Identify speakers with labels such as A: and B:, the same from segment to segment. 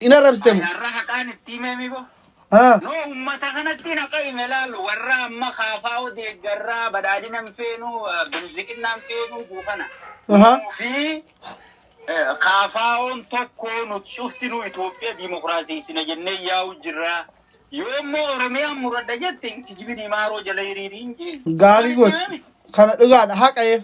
A: Hin arrabsite mo. Ayyaarra haqaan itti
B: himee mibo. Haa. No ummata kanatti naqa hime laalu warra amma kaafaa odeeggarraa badhaadhina hin feenu bilziqinnaa hin feenu juu kana. Aha. Nuu fi eh, kaafaa'oon tokko nuti cuftinuu Itoophiyaa diimokiraasiisina jennee yaa'u jirra. Yoo immoo Oromiyaan muradha jette hin kijibini maaroo jala hiriiriin jee. Gaarii Maalitti goot.
A: himame? Kana dhugaadha haqa'ee.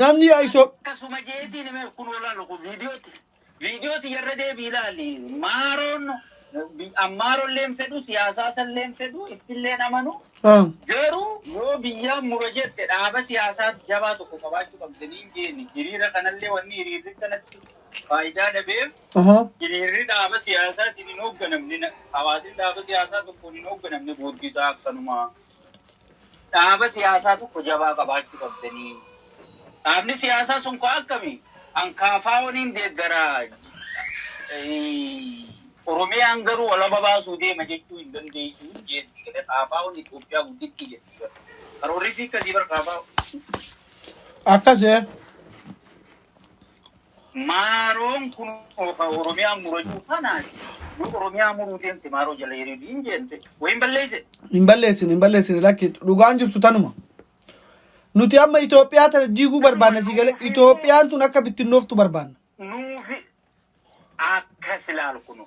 A: Namni Yaa Itoophiyaa. akkasuma jeetiin
B: mee kun olaanu kun viidiyooti viidiyooti yarra deebii ilaali maaroon ammaarolleen fedhu siyaasaasalleen fedhu ittilleen amanu garuu yoo biyyaa mura jette dhaaba siyaasaa jabaa tokko qabaachuu qabda niin jeeni hiriira kanallee wanni hiriirri kanatti faayidaa dhabeef hiriirri dhaaba siyaasaatiin hin hoogganamne hawaasni dhaaba siyaasaa tokkoon hin hoogganamne booddisaa akkanumaa Dhaaba siyaasaa tokko jabaa qabaachuu qabdanii. Dhaabni siyaasaa sun koo akkami? An KFOn hin deeggara, Oromiyaan garuu walaba baasuu deema jechuu hin dandeessu jeetti jedhe KFOn Itoophiyaa guddittii jetti bar. Karoorrisii akkasii bar KFO.
A: Akkas ee.
B: Maaroon kun oka Oromiyaa murachuu kanaan yoo Oromiyaa muruu deemte maaroo jala hiriirii hin jeente wayin balleeyse. Hin balleessine
A: hin balleessine lakki dhugaan jirtu tanuma. Nuti amma Itoophiyaa tana diiguu barbaanna sii galee Itoophiyaan tun akka bittinnooftu barbaanna. Nuufi
B: akkas ilaalu kunu.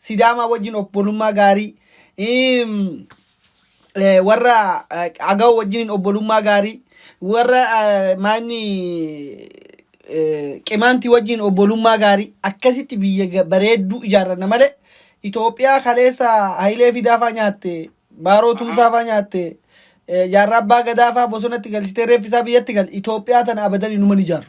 A: Sidaamaa wajjin obbolummaa gaarii iim, eh, warra eh, Agaw wajjin obbolummaa gaarii warra eh, maanni eh, Qimaantii wajjin obbolummaa gaarii akkasitti biyya ga- bareedduu ijaarranna malee Itoophiyaa kaleessa Hayilee Fidaafaa nyaatte Baaroo Tumsaafaa nyaatte eh, Jaarraa Abbaa Gadaafaa bosonatti galchitee reeffisaa biyyatti gal Itoophiyaa tana abadan inuma ni ijaarru.